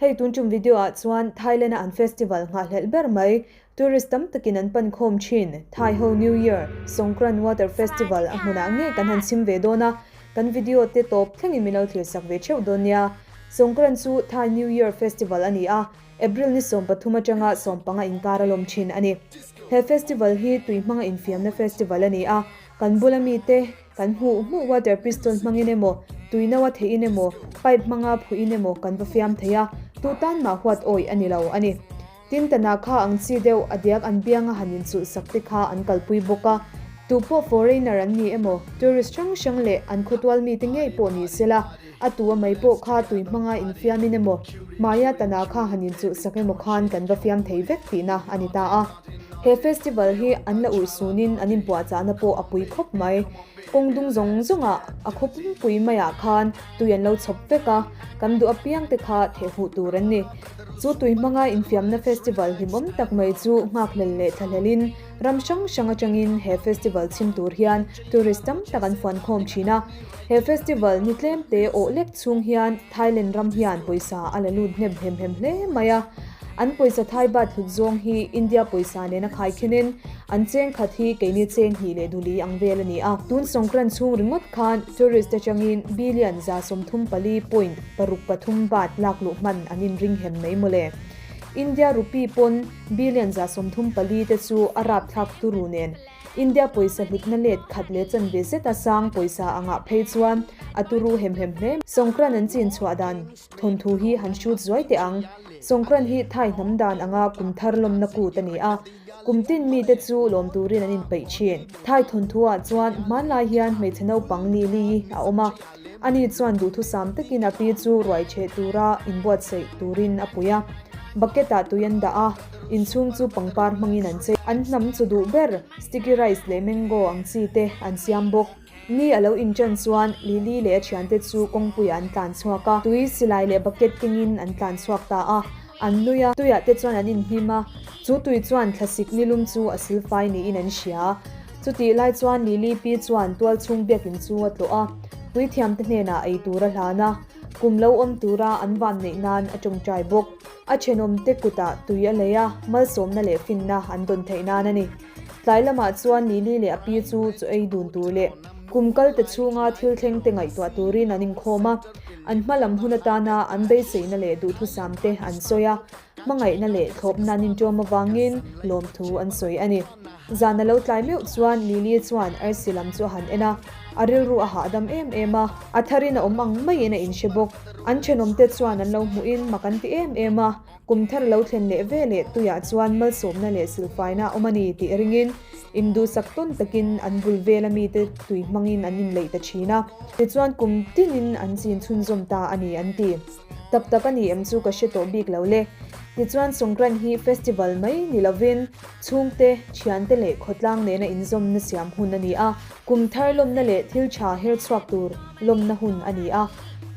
Hei tun ṭum video ah chuan Thailand a an festival nghah hlelh ber mai. Tourist tam takin an pan khawm ṭhin. Thai ho New Year, Songkran Water Festival, a hmunah ngei kan han chim ve dawn a, kan video te tawp thlengin min lo thlir sak ve ṭheuh dawn nia. Songkran chu Thai New Year festival a ni a, April ni sawm pathum aṭanga sawm panga inkar a lawm ṭhin a ni. He festival hi tui hmanga infiamna festival a ni a, kan bula mite, Kan hmuh hmuh water piston hmangin emaw, tui nau a theihin emaw, pipe hmanga phuihin emaw kan va fiam thei a, tu tan mah huat awih a ni lo a ni. Tin, tana kha ang chi deuh a diak an bianga han inchulhsak te kha an kalpui bawk a. Tu pawh foreigner an ni emaw, tourist hrang hrang leh an khawtual mite ngei pawh ni sela, A tua mai pawh kha tui hmanga infiamin emaw, Maya Tana kha han inchulhsak emaw khan kan va fiam thei vek tihna a ni ta a. He festival hi an la urh sunin an inpuahchahna pawh a pui khawp mai. Kawng dung zawng zawnga a khaw pumpui maiah khan tui an lo chhawp vek a, kan duh apiang te kha theh hmuh tur an ni. Chu tui hmanga infiamna festival hlimawm tak mai chu nghakhlel leh thlahlelin Ram hrang hrang atangin he festival chhim tur hian tourist tam tak an fuan khawm thin a. He festival ni tlemte awh lek chhung hian Thailand ram hian pawisa a la lut hnep hnem hnem hle mai a. An pawisa Thai Baht hlut zawng hi India pawisa nen a khai khenin an cheng khat hi keini cheng hnih leh du li ang vel a ni a. Tun Sawngkran chhung ringawt khan tourist atangin billion za sawmthum pali point paruk pathum baht lak luh hman an inring hem mai mawle. India rupee pawn Billion za sawmthum pali te chu a rapthlak turu nen India pawisa hlutna let khat leh chanve zeta sang pawisa a ngah phei chuan a turu hem hem hle mai. Sawngkran an chin chhuah dan thawnthu hi han shoot zuai teh ang. Sawngkran hi Thai hnam dan anga kum thar lawmna kut a ni a, kum tin mite chu lawm turin an inpeih thin. Thai thawnthuah chuan hmanlai hian hmeichhe naupang li li a awm a. Ani chuan duhthusam takin a pi chu ruai chhe tura inbuatsaih turin a pui a. Bucket-ah tui an dah a, inchhung chu pangpar hmangin an chei. An hnam chu duh ber, sticky rice leh mango ang chi te an siam bawk. Ni a lo inṭan chuan Lily leh a thiante chu kawngpuiah an tlan chhuak a, tui silai leh bucket kengin an tlan chhuak ta a. An nui a, tuiah te chuan an inhnim a, chu tui chuan thlasik nilum chu a sil fai niin an hria. Chutih lai chuan Lilipi chuan tualchhung biakin chu a tlawh a, puithiamte hnenah ei tur a hlan a, kum lo awm tura an vamneih nan a tawngtai bawk. A thenawmte kutah tui a lei a, malsawmna leh finna an dawn theih nan a ni. Tlai lamah chuan Lily leh a pi chu chaw ei dun tur leh kum kalte chhunga thil thlengte ngaihtuah turin an inkhawm a. An hma lam hun atana an beiseina leh duhthusam te an sawi a, hmangaihna leh thlawpna an intuam avangin lawmthu an sawi a ni. Zan a lo tlai meuh chuan Lily chuan arsi lam chu a han en a, a rilru a hahdam em em a. A tharin a awm ang maiin a inhre bawk. An thenawmte chuan an lo hmuhin mak an ti em em a. Kum thar lo thlen leh ve leh tuiah chuan malsawmna leh silhfaina a awm a ni tih ringin induhsak tawn takin an bul vela mite tui hmangin an inleih ta thin a. Tichuan kum tingin an chin chhunzawm ta a ni an ti. Tak tak a ni em chu ka hre tawh bik lo le. Tichuan Sawngkrain hi festival mai ni lovin chhungte, thiante leh khawtlang nena inzawm nasiam hun a ni a. Kum thar lawmna leh thil tha herchhuak tur lawmna hun a ni a.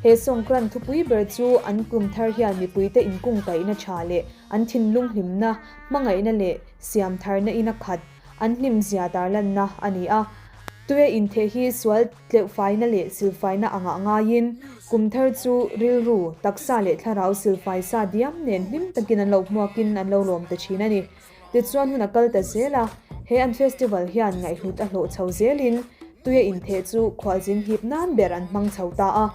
He sawngkran thupui ber chu an kum thar hian mipuite inkung kaihna tha leh an thinlung hlimna, hmangaihna leh siam tharna ina khat an hlim zia dar lanna a ni a. Tuia intheh hi sual tleuhfaina leh silfaina a ngah ngaiin, kum thar chu rilru, taksa leh thlarau silfai sa diam nen hlim takin an lo hmuakin an lo lawm ta thin a ni. Tichuan hun a kal ta zel a, he an festival hian ngaihhlut a hlawh chho zelin tuia intheh chu khualzin hip nan ber an hmang chho ta a.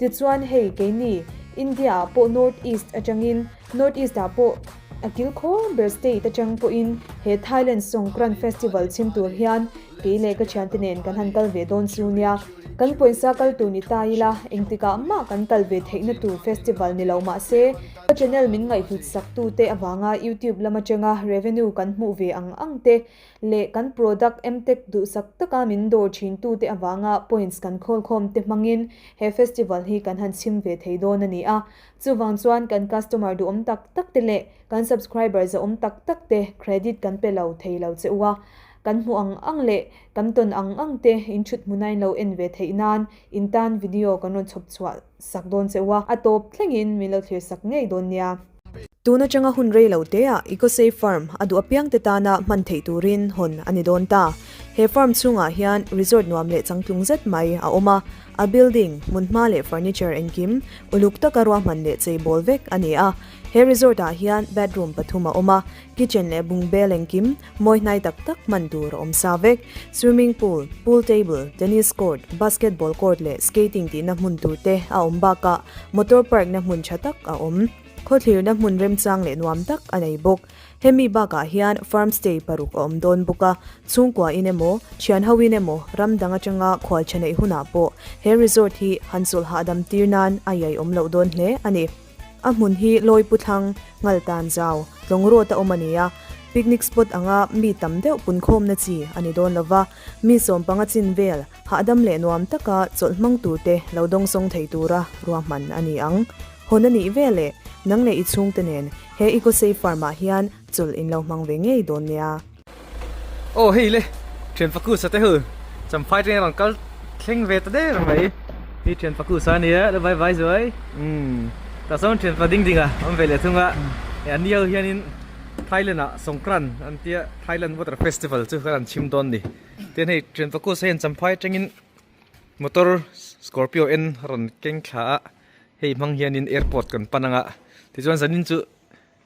Tichuan hei keini India ah pawh North East atangin North East ah pawh a kil khawm ber state atang pawhin he Thailand Songkran festival chhim tur hian kei leh ka thiante nen kan han kal ve dawn chu nia. Kan pawnsa kal tur ni ta ila engtikah mah kan kal ve theihna tur festival ni lo mahse, Ka channel min ngaihhut sak tu te avanga youtube lam atanga revenue kan hmuh ve ang ang te leh kan product mtech duhsak taka min dawr thin tu te avanga points kan khawl khawm te hmangin he festival hi kan han chhim ve thei dawn a ni a. Chuvang chuan kan customer duhawm tak tak te leh kan subscriber zahawm tak tak te credit kan pe lo thei lo che u a. Kan hmu ang ang leh kan tawn ang ang te in thut hmunain lo en ve theih nan in tan video kan rawn chhawp chhuah sak dawn che u a, a tawp thlengin min lo thlir sak ngei dawn nia. Tun atanga hun rei lo teah Ecosafe Farm a duh apiang te tana hman theih turin hawn a ni dawn ta. He farm chhungah hian resort nuam leh changtlung zet mai a awm a, a building, hmunhma leh furniture engkim uluk taka ruahman leh cheibawl vek a ni a. He resort ah hian bedroom pathum a awm a, kitchen leh bungbel engkim mawi hnai tak tak hman tur a awm sa vek. Swimming pool, pool table, tennis court, basketball court leh skating tihna hmun tur te a awm bakah motor park na hmun tha tak a awm. Khawthlirna hmun remchang leh nuam tak a nei bawk. Hemi bakah hian farm stay paruk a awm dawn bawk a, chhungkua in emaw, thian ho in emaw, ram dang atanga khualtha neih hunah pawh he resort hi han chawlh hahdam tir nan a iaiawm loh dawn hle a ni. A hmun hi Lawi Pu Thlang Ngaltan Zau tlawng rawt a awm a ni a, picnic spot anga mi tam deuh punkhawmna chi a ni dawn lova, mi sawm panga chin vel hahdam leh nuam taka chawlhmang turte lo dawngsawng thei tura ruahman a ni ang. Hawn a nih vel e, nang leh i chhungte nen he Ecosafe Farm-ah hian chawlh in lo hmang ve ngei dawn nia. Aw hei le thian fakusa te hu champhai teng an kal thleng ve ta der mai hi thian fakusa nia la vai vai zuai umm tah sawn thian fa ding ding a awm ve leh thung a e an ni ho hian in thailand ah sawngkran an tia thailand water festival chu kal an chim dawn ni tin hei thian fakusa hian champhai teng in motor scorpio en a rawn keng thla a hei hmang hian in airport kan pan ang a tichuan zanin chu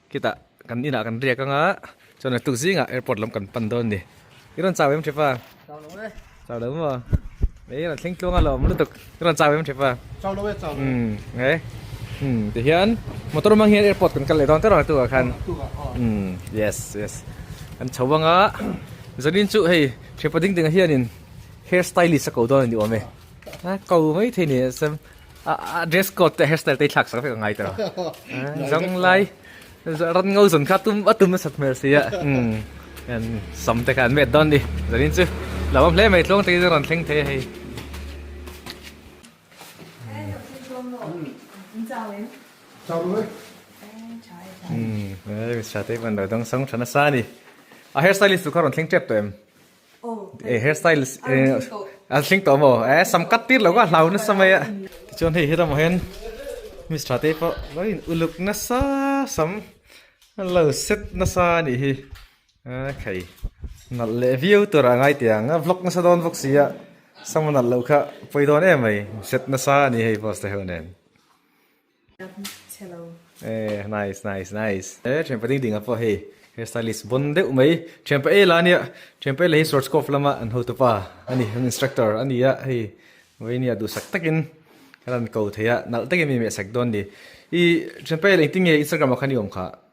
Khitah kan inah kan riak anga chuan a tukzingah airport lam kan pan dawn a ni. I rawn chau em Hrip a? Chau lo e. Chau lo maw? Ih rawn thleng tluang a la awm lutuk. I rawn chau em Hrip a? Chau lo e, chau lo e. Umm he umm tihian motor awm ang hian airport kan kal leh dawn tawh ang a tukah khan. A tukah aw. Umm yes yes. Kan chho anga Zalin chu hei Hripa ding dingah hianin hair stylist a ko dawn a ni awm e. A ko maithei ni e. a dress code te hairstyle te thlak sak vek a ngai ta zong lai ran ngau zon kha tum a tum na sat hmel sia um en sam te khan met don ni zanin chu lawam hle mai tlawng te in ran thleng the hei Um, eh, sa te man lo dong sang thana sa ni. A hairstylist tu kha ron thleng tep to em. Eh hair style a hling tawh maw eh sam cut tir loh ka hlau nasa mai a tichuan hei heramah hian miss tha te pawh lawin uluk nasa sam lo set nasa a nih hi eh khei nalh leh viau tur a ngai thei ang a vlog nasa dawn vawk sia sam a nalh loh kha pawi dawn em mai set nasa a ni hei boss te ho nen. Eh nice nice nice eh thianpa ding ding a pawh hei hair stylist bawn deuh mai thianpa ela nia thianpa ela hi schwarzkopf lama an hotupa a ni an instructor a ni a hei vawinia duhsak takin ka rawn ko thei a nalh takin mi meh sek dawn ni ih thianpa ela engtin nge instagram ah kha ni awm kha.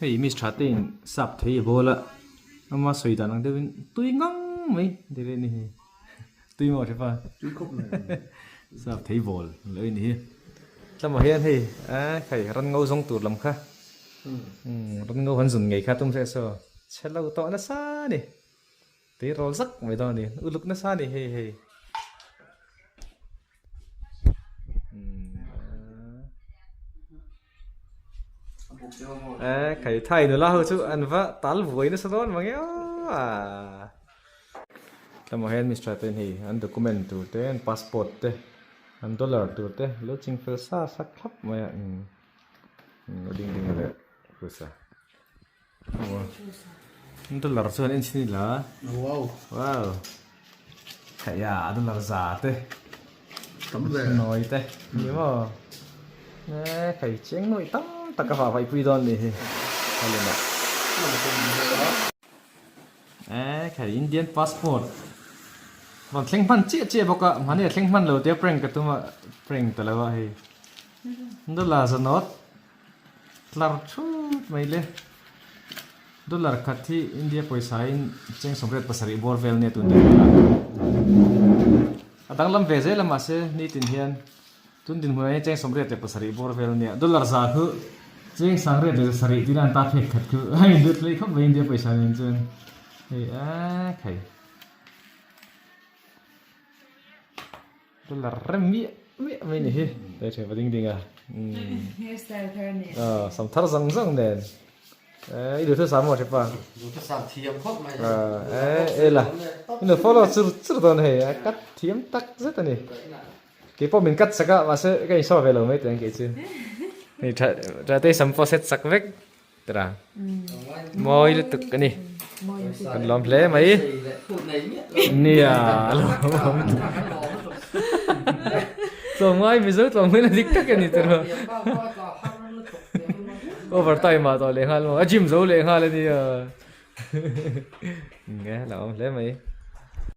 Hei miss tha te in sap thei a ball a, ama sawi dan ang deuh in tui ngang mai ti reh ni hi, tui maw hre pa? Tui khawp mai ang hi. Sap thei ball ang lo i ni hi. Hla mah hian hei aaa khai ran ngo zawng tur lam kha umm ran ngo han zun ngei kha a tum hle saw chhe lo tawh nasa a ni. Tei rawl zak mai dawn anih. Uluk nasa anih hei hei. Eh, kai thai nula ho chu an va tal vuai nasa dawn mang eo a. Tlemaw hian Mister te hei an document tur te, an passport te, an dollar tur te lo ching fel sa sak thlap mai a. Umm, a ding ding a leh pawisa. dollar chuan en chhin ila wow wow theia dollar za te tam ve nawi te ni maw e thei chiang nawi tam tak a vavai pui dawn ni hi helena e thei indian passport rawn thleng hman chiah chiah bawk a mahni a thleng hman lo tia prank ka tum a prank ta lo a hei dollar za nawt Tlar thut mai le. Dollar khat hi India pawisa-in chengchhawm rate pasarih bawr vel nge tun daih vel a? A danglam ve zel a mahse, nitin hian tun dinhmunah hian chengchhawm rate leh pasarih bawr vel nge a? Dollar zah hluh, chengsang rate leh zasarih tina an ta phek khat hluh. A inlut mai khawp mai India pawisa nen chuan. Hei a khai. Ka la rem miah miah mai ni hi. Hei ṭheh va ding ding a. Hair style kha nen. Aw, sam thar zang zang nen. I duh thusa maw Hripa? Duh thusa thiam khawp mai hi. Eh, ela. I nu follow chur chur dawn hei. A cut thiam tak zet a ni. Kei pawh min cut chak a, mahse ka in show ve lo mai teh ang kei chu. Hei ṭha ṭha te sam pawh set chak vek. Tira mawi lutuk a ni. Kan lawm hle mai. Nia a lawm. Chawngmai mizo chawngmai na dik tak a ni tira. Overtime ah tawh leh nghal maw? A gym zo leh nghal a nia. Nia a lawm hle mai.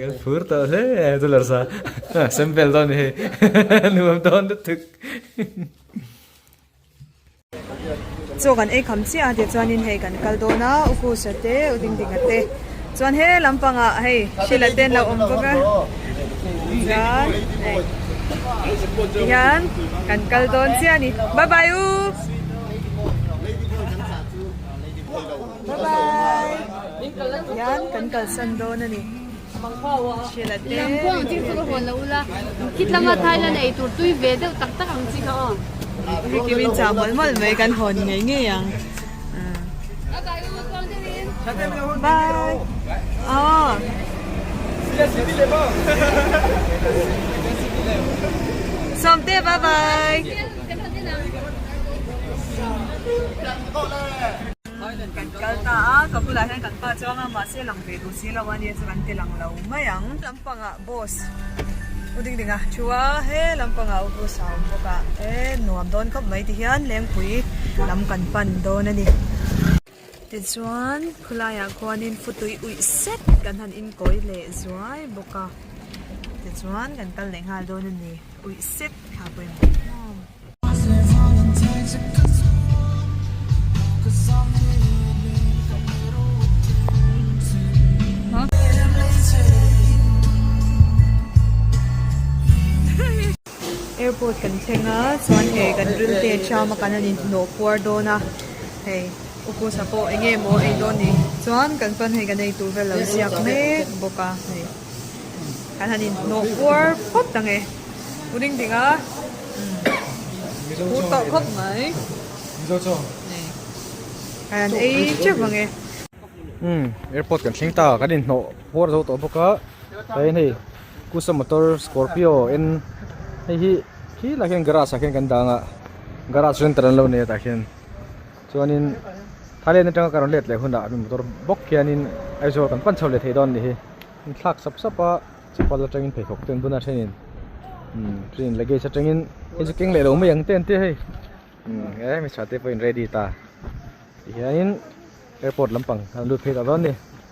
kan phur tawh hle chu larsa sample dawn hei nuam dawn lutuk chaw kan ei kham chiah a tia chuanin hei kan kal dawn a u kusa te u ding ding a te chuan he lampanga hei hrilh a te an lo awm bawk a chuan hei tihian kan kal dawn chiah a ni bye bye u Bye bye! Hian kan kalsan dawn a ni. Sheila te Ricky min chah mawlh mawlh mai kan hawn ngei ngei ang. Bye! Sawmte bye bye! Kan kal ta a, ka bulah hian kan pa chuang a, mahse lang ve duh si lo a nia chu kan ti lang lo mai ang. Lam panga boss u ding ding a thu a, he lam panga u boss a awm bawk a, he nuam dawn khawp mai ti hian lengpui lam kan pan dawn a ni. Tichuan khulai ah khuanin futui uih set kan han inkawi leh zuai bawk a, tichuan kan kal leh nghal dawn a ni, uih set thlapui mawm mawm. Airport kan thleng a chuan hei kan rim te ṭhiam a kan han inhlawh puar dawn a hei Ukhusa pawh eng nge maw a ei dawn ni chuan kan chuan hei kan eitur vel lo ziak mek bawk a hei. Kan han inhnawh puar phawt ta nge. U Ding Ding a. Pur tawh khawp mai. Mizo chuang. Nei. Kan han ei teuh vang e. Umm, airport kan thleng ta. Kan inhnawh puar zo tawh bawk a. Hei hei, Kusa Motor Scorpio en. Hei hi, khi lah hian garage ah khian kan dang a. Garage renter an lo nei a tah hian. Chuanin Thailand atanga ka rawn let leh hunah mi motor bawk hianin Aizawl kan pan chho leh thei dawn a ni hi. An thlak sap sap a, chapal atangin pheikhawk te an bun a thenin umm firin luggage atangin hei chu keng leh lo mai ang te an tia hei. Umm e hmeichhia te pawhin ready ta ti hianin airport lampang an lut phei ta dawn a ni.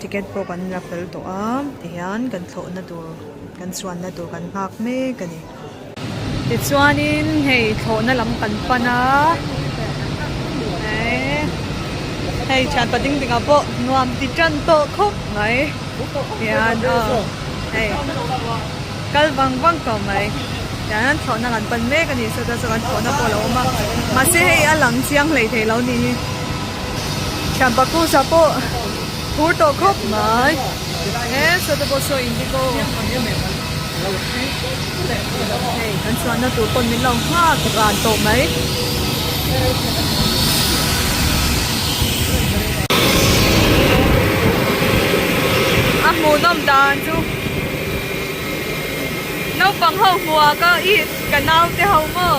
Ticket pawh kan la fel tawh a, tihian kan thlawhna tur, kan chuanna tur kan nghak mek a ni. Tichuanin hei thlawhna lam kan pan a, hei hei thian pa ding dingah pawh nuam ti tan tawh khawp mai tihian aw hei kal vang vang tawh mai tiang hian thlawhna kan pan mek a ni, saw chuan saw kan thlawhna pawh a lo awm a, mahse hei a lang chiang hlei theih lo ni hi. Thiam paktu sa pawh phur tawh khawp mai. E Soda pawh sawi in bik aw. Hei kan chuanna tur pawn min lo nghak ran tawh mai. A hmuhnawm dan chu naupang ho hmuaka i ka naute ho maw.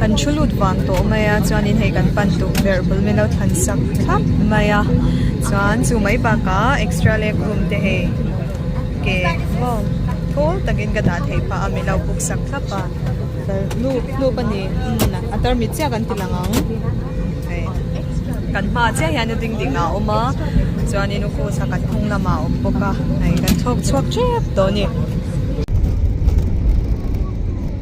Kan thu lut vang tawh mai a, chuanin hei kan pan duh ber bul min lo than sak thlap mai a, chuan chu mai bakah extra leg room te hei ke maw thawl takin ka dah thei pah a, min lo book sak thlap a, hlup a ni a tarmit chiah an ti lang ang, hei kan hma chiah hian a ding ding a awm a, chuanin u Kosa kan hmung lamah a awm bawk a, hei kan chhawk chhuak tep tawh a ni.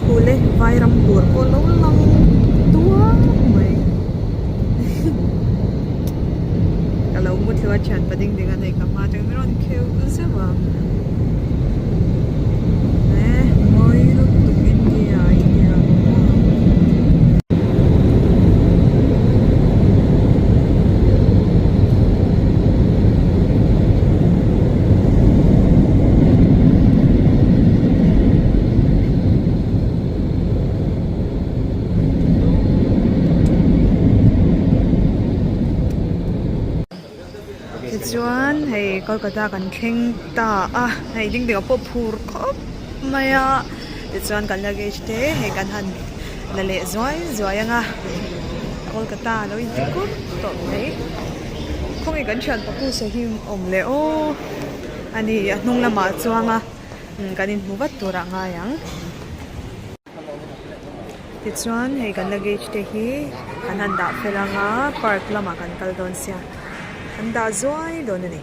Khul e, Vairam tur pawh lo lang duak mai. Ka lo mu thlu a thian pa ding ding a nei ka hma atang min rawn kheu zeuh a. tichuan hei kolkata kan thleng ta a hei ding ding ah pawh phur khawp mai a tichuan kan luggage te hei kan han la leh zuai zuai ang a kolkata a lo in ti kup tawh mai khaw nge kan thian pakusa hi awm leh o a ni a hnung lamah chuang a. kan in hmu vat tur ah ngai ang tichuan hei kan la gate te hi kan han dah fel ang a park lam ah kan kal dawn sia an dah zuai dawn a ni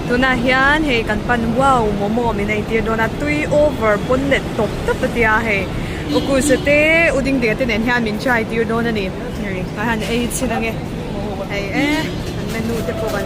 tunah hian hei kan pan wow momo min ei tir dawn a tui over pawn let tawp tawp a tia hei u kulsa te u ding ding te nen hian min try tir dawn a ni hei kan han ei chhin ang e hei e an menu te pawh kan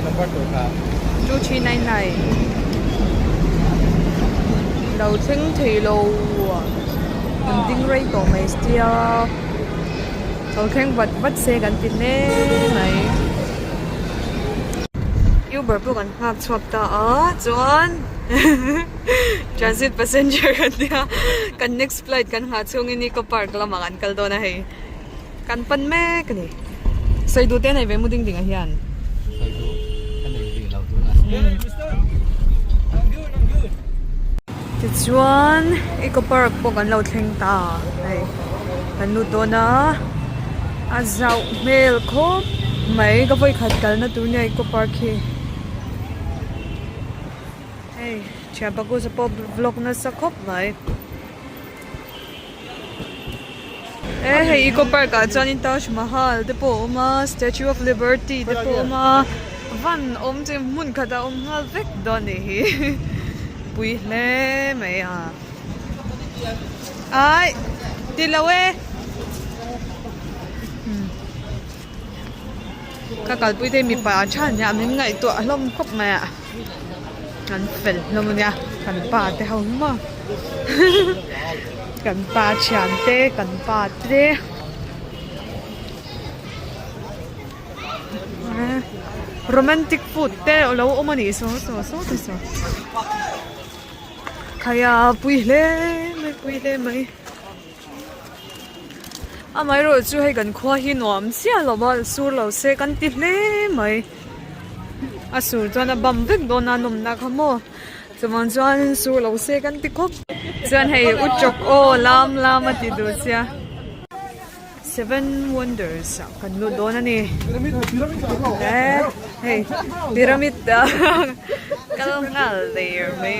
Number tur hna. Two three nine nine. Lo thleng thei lo a. Kan ding rei tawh mai stia. Lo thleng vat vat se kan ti hle mai. Uber pawh kan nghak chhuak ta a chuan transit passenger kan nia. Kan next flight kan nghah chhung i Nicco Park lamah kan kal dawn a hei. Kan pan mek a ni. Saidu te a nei ve mu ding ding a hian. Saidu a nei ve lo tuna. Tichuan Eco Park pawh kan lo thleng ta hei. Kan lut dawn a. A zauh hmel khawp mai ka vawi khat kalna tur nia Eco Park hi. Hei thianpa kusa pawh vlog nasa khawp mai. Eh hei eco park ah chuan in Taj Mahal te pawh a awm a statue of liberty te pawh a awm a van awm chu hmun khat ah a awm nghal vek dawn nih hi pui hle mai a aih tilo e. ka kalpui te mipa a tha ania min ngaih tuah hlawm khawp mai a kan fel hlawm ania kan pa te ho hi maw kan pa thian te kan pa te romantic food te a lo awm a nih saw saw saw te saw khaia pui hle mai pui hle mai. Amaherawh chu hei kan khua hi nuam chiah lova sur lo se kan ti hle mai a sur chuan a bam vek dawn a nawmna kha maw chuvang chuan sur lo se kan ti khawp chuan hei u chawk aw lam lam a ti duh sia seven wonders ah kan lut dawn a ni eh hei pyramid ah kal nghal der mai.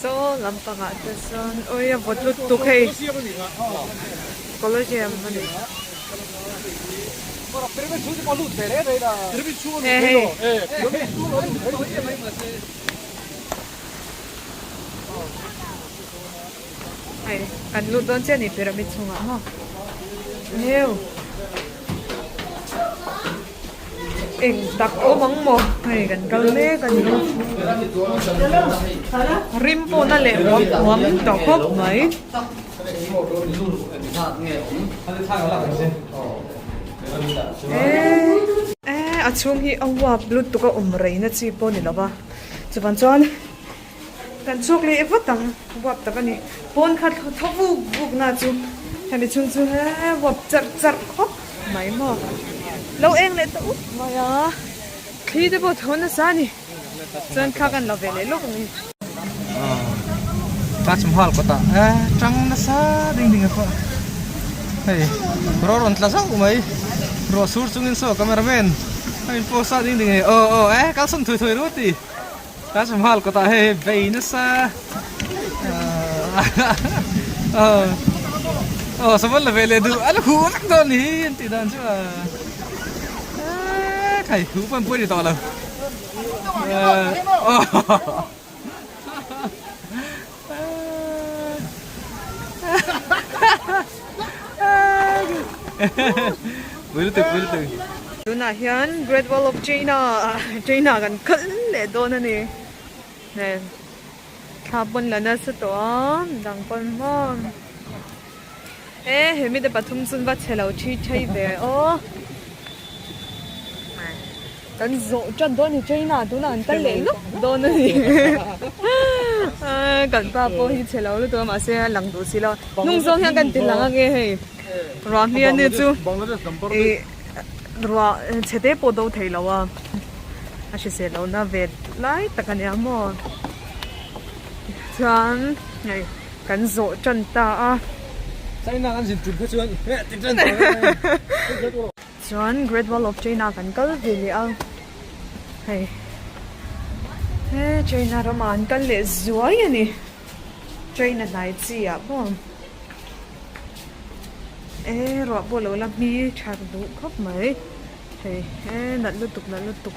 Saw lampangah te chuan awi a vawt lut tuk hei. Colosseum a ni. Hei hei. Hei kan lut dawn chiah a ni pyramid chhungah maw. Heuh. eng tak awm ang maw hei kan kal mek a ni rim pawh na leh huam huam tawh khawp mai. Eeii a chhung hi a uap lut tuk a awm rei na chi pawh a ni lo va chuvan chuan Kan chhuak leh vat ang vuap tak a ni. Pawn kha tho vuk vuk na chu hemi chhung chu he vuap charh charh khawp mai maw. Lo eng leh ta up mai a. Thli te pawh tho nasa a ni. Chuan thla kan la ve leh lawk ang i. Taj Mahal kawtah he tang nasa ding ding a kawh. Hei ro rawn tla zauh mai. Ruah sur chungin saw camera man a in post a ding ding a ni. Aw aw he kalsan thawih thawih rawt i. Taj Mahal kawtah hei hei vei nasa Oh, saman la vele du ala hu lak do ni an ti dan chu a kai hu pan pui ni to lo Tunah hian Great Wall of China China kan kal leh dawn a ni. Nen thla pawn la nasa tawh a dang pawn maw. Eh, he mite pathum chun va chhe lo thi thei ve aw. Kan zawh tat dawn ni China tuna an kal leh lup dawn a ni. Kan pa pawh hi chhe lo lutuk a mahse a lang duh si lo. Nung zawng hian kan ti lang ange hei. Ruah hmia ni chu i ruah chhe te pawh do thei lo a. A hrisel lohna ve lai tak a nia maw. Chuan hei. Kan zawh tan ta a. China kan zin tum kha chuan heh ti tan ta mai. Chuan Great Wall of China kan kal ve leh a. Hei he China ramah an kal leh zuai a ni. China hnai chi ah pawh e ruah pawh lo la hmi tha duh khawp mai. Hei e nalh lutuk nalh lutuk.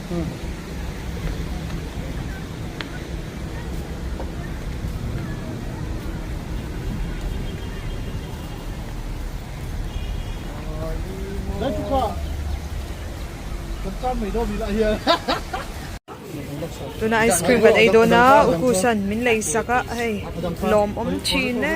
Tuna ice cream kan ei dawn a ukusa'n min lei sak a hei lawm awm thin e.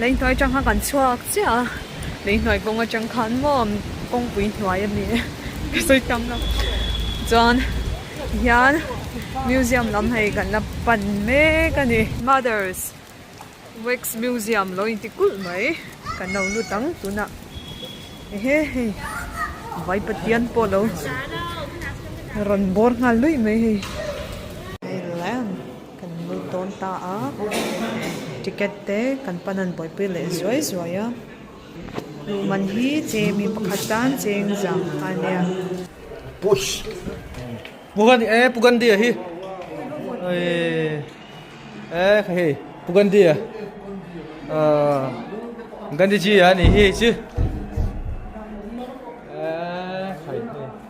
Leihnuai chang khan kan chhuak chiah a, leihnuai kawng atang khan maw kawngpui hnuai a ni e, ka sawi tam lo. Chuan hian museum lam hei kan la pan mek a ni. Mother's wax museum lo inti kulh mai, kan lo lut ang tunah. Ehe hei vai Pathian pawh lo rawn bawr nghal luih mai hei. Kan ni tawn ta a, ticket te kan pan a han buaipui leh zuai zuai a, luh man hi che mi pakhat tan cheng zam a nia. Push. Pu Gandhi e, Pu Gandhi a hi. Ui. E kha hi, Pu Gandhi a. Gandhi ji a ni hi chu.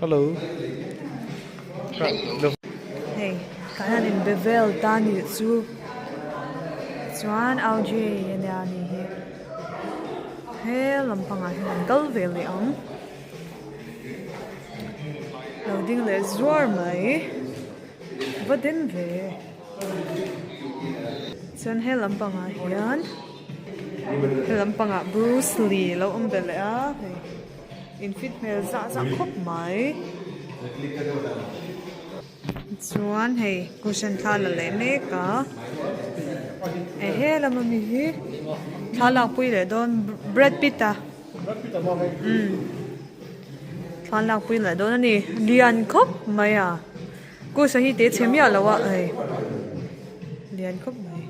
Hello. Hei kan han in be vel ta ni chu chuan au ji a nia a ni hi he lam pangah hian an kal ve leh ang lo ding leh zuar mai va den ve chuan he lam pangah hian he lam pangah bruce lee lo awm ve leh a hei. In fit hmel zah zah khawp mai. Chuan hei cushion thla la leh mek a. Hei he lam ami hi thla lak pui leh dawn Brad Pitt a. Umm thla lak pui leh dawn a ni. Lian khawp mai a. Cushion hi teh chhe miah loh a hei. Lian khawp mai.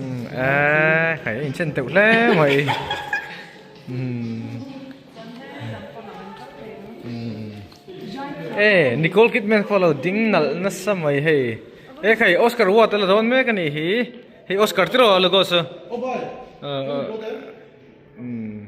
Umm eehh hei a inchen teuh hle mai. Nicole Kidman pawh a lo ding nalh nasa mai hei, he khai Oscar Award a la dawn mek a nih hi, hei Oscar tiraw a la go chu umm.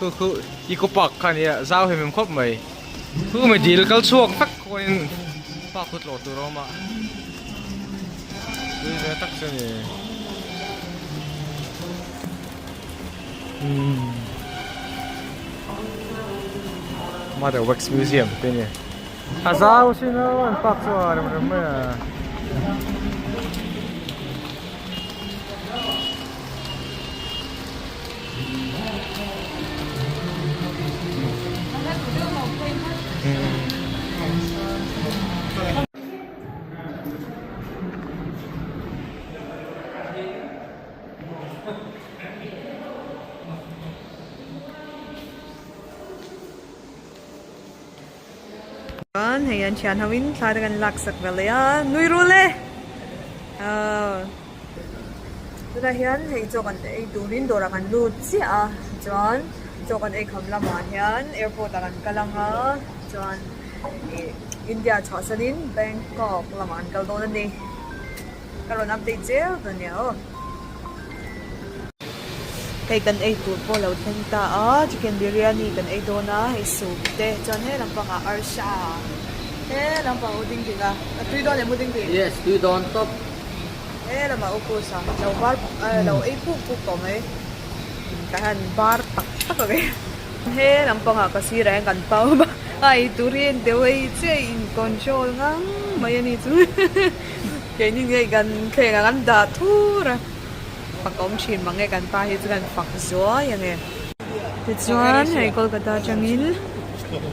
khu khu eco park kha nia zau hlim hlim khawp mai khu mai dil kal chhuak vek khuanin park chu tlawh tur a awm a tui ve tak chu ni mother wax museum te nia A zau si no an fak chu a rem rem mai a. Chuan hei an thian ho in thla te kan lak sak ve leh a, nui ru le! Aw. Tunah hian hei chaw kan ei turin dawr ah kan lut chiah a, chuan chaw kan ei kham lam ah hian airport ah kan kal ang a, chuan India chhuah san in Bangkok lamah kan kal dawn a ni. Ka rawn update zel ta nia aw. Hei kan ei tur pawh lo thleng ta a, chicken biryani kan ei dawn a, hei soup te chuan he lampang ah arsa he lampang u ding ding a, a tui dawn leh mu ding ding? Yes, tui dawn tawp. He lamah u course ah lo var puk a, lo ei puk puk tawh mai. Tah hian var tak tak a ve. He lampang ah ka sir ah hian kan pau va, a ei tur hi deuh ei chiah a, in control ngang mai a ni chu. Keini ngei kan thleng ah kan dah thur a, fak awm thin mang e, kan pa hi chu kan fak zuai ang e. Tichuan hei Kolkata atangin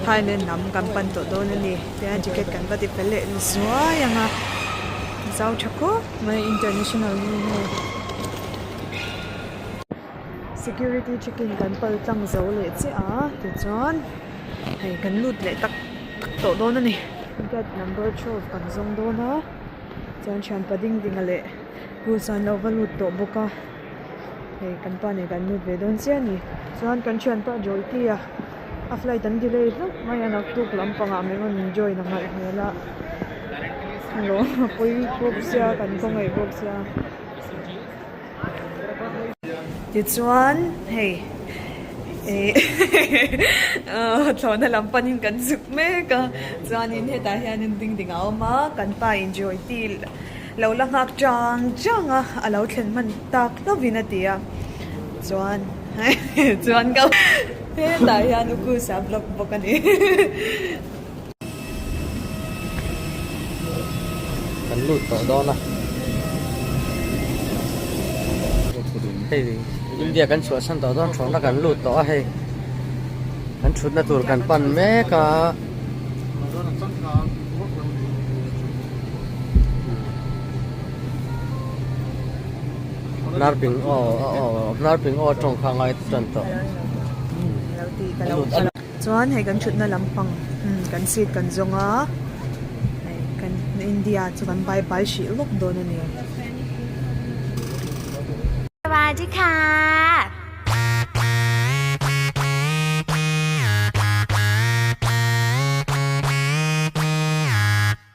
Thailand lam kan pan tawh dawn a ni, tichuan ticket kan va ti fel leh zuai ang a, zau tha khawp mai international hnu hi. Security checking kan pal tlang zo leh chiah a tichuan hei kan lut leh tak tak tawh dawn a ni gate number twelve kan zawng dawn a chuan thian pa ding ding a leh rules ah an lo va lut tawh bawk a hei kan pa nen kan lut ve dawn chiah a ni chuan kan thian pa Joytee a a flight an delay hlauh mai a naktuk lampang ah min rawn enjoy in a ngalh hmel a hello a pawi bawk sia kan khawngei bawk sia. Tichuan hei eehh thlawhna lam panin kan zuk mek a, chuanin hetah hianin ding ding a awm a, kan pa enjoy ti lo la nghak chang chang a, a lo thlen hman tak hlawvin a ti a, chuan chuan ka hetah hian u Kusa block bawk a ni. kan lut tawh dawn a hei India kan chhuahsan tawh dawn thawhna kan lut tawh a hei kan thutna tur kan pan mek a Narping aw aw Narping aw tawng kha a ngai tan tawh. Chuan hei kan thutna lampang kan seat kan zawng a, hei kan India chu kan bye bye hrih lawk dawn a ni. Sawadika.